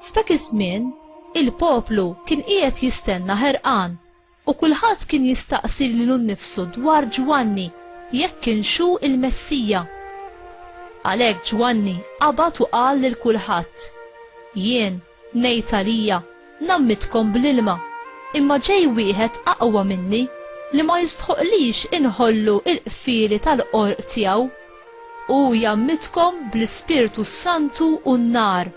F'dak iż-żmien, il-poplu kien qiegħed jistenna ħerqan U kulħadd kien jistaqsi lilu nnifsu dwar Ġwanni jekk kienx hu l-Messija. Għalhekk Ġwanni qabad u qal lil kulħadd, Jien ngħid għalija, ngħammitkom bl-ilma, imma ġej wieħed aqwa minni li ma jistħoqqlix inħollu l-qfieli tal-qorq tiegħu. Hu jgħammidkom bl-Ispirtu s-Santu u n-nar.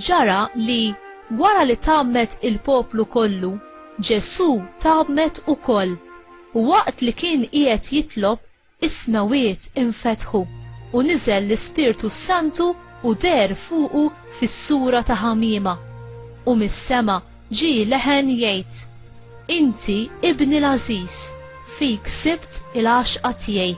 Ġara li, wara li tgħammed il-poplu kollu, Ġesù tgħammed ukoll, u waqt li kien qiegħed jitlob, Is-smewwiet infetħu, u niżel l-Ispirtu s-Santu u deher fuqu fis-sura ta' ħamiema. U mis-sema ġie leħen jgħid, Inti Ibni l-għażiż, fik sibt il-għaxqa tiegħi.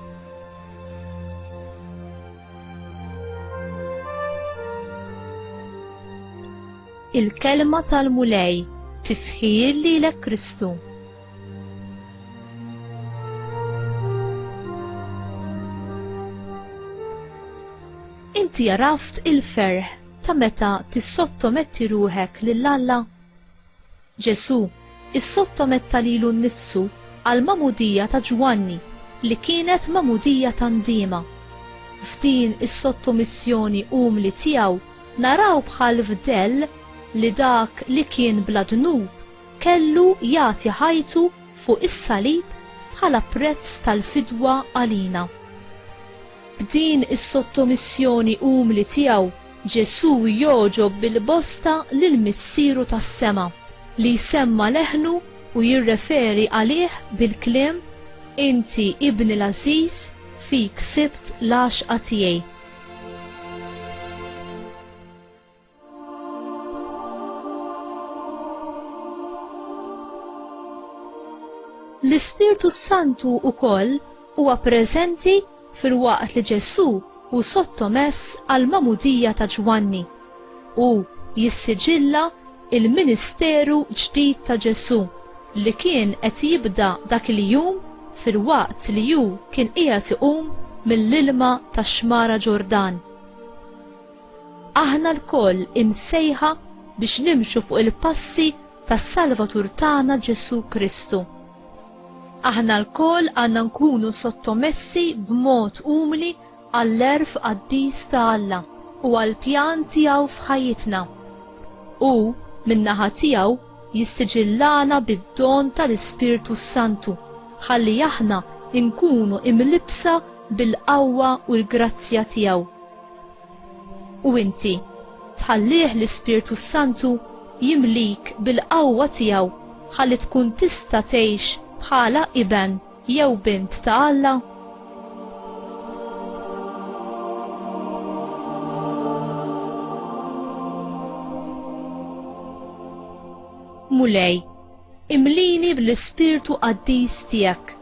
Il-Kelma tal-Mulej, Tifħir lilek Kristu. Inti għaraft il-ferħ ta' meta tissottometti ruħek lil Alla? Ġesu, issottometta lilu nnifsu għal mamudija ta' Ġwanni li kienet mamudija ta' ndima. F'din is-sottomissjoni umli tiegħu naraw bħal fdell li dak li kien bla dnub Kellu jagħti ħajtu fuq is-salib bħala prezz tal-fidwa għalina. B'din is-sottomissjoni umli tiegħu, Ġesù jogħġob bil-bosta lil Missieru tas-sema, li jsemma leħnu u jirreferi għalih bil-kliem, Inti Ibni l-għażiż, fik sibt l-għaxqa tiegħi. L-Ispirtu s-Santu wkoll huwa preżenti filwaqt li Ġesù hu sottomess għall-magħmudija ta' Ġwanni. Hu jissiġilla l-ministeru ġdid ta' Ġesù li kien qed jibda dak il-jum filwaqt li hu kien qiegħed iqum mill-ilma tax-xmara Ġordan. Aħna lkoll imsejħa biex nimxu fuq il-passi tas-Salvatur tagħna Ġesù Kristu. Aħna lkoll għandna nkunu sottomessi b'mod umli għall-għerf qaddis ta' Alla u għall-pjan tiegħu f'ħajjitna. Hu, min-naħa tiegħu, jissiġillana bid-don tal-Ispirtu s-Santu ħalli aħna nkunu imlibbsa bil-qawwa u l-grazzja tiegħu. U inti tħallih l-Ispirtu s-Santu jimlik bil-qawwa tiegħu ħalli tkun tista' tgħix bħala iben jew bint ta' Alla? Mulej, Imlini bl-ispirtu qaddis tiegħek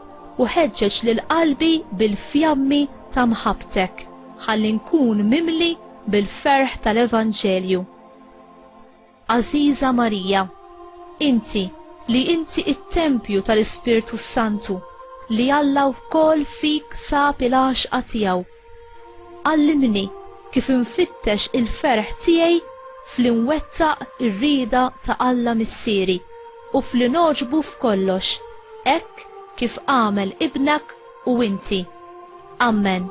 u ħeġġeġ lil qalbi bil-fjammi ta' mħabbtek, ħalli nkun mimli bil-ferħ tal-evanġelju. Għażiża Marija, inti li inti t-tempju tal-Ispirtu s-Santu, li Alla wkoll fik sab il-għaxqa tiegħu, Għallimni kif infittex il-ferħ tiegħi f'li nwettaq ir-rieda ta' Alla Missieri u f'li ngħoġbu f'kollox, hekk kif għamel Ibnek u inti. Ammen.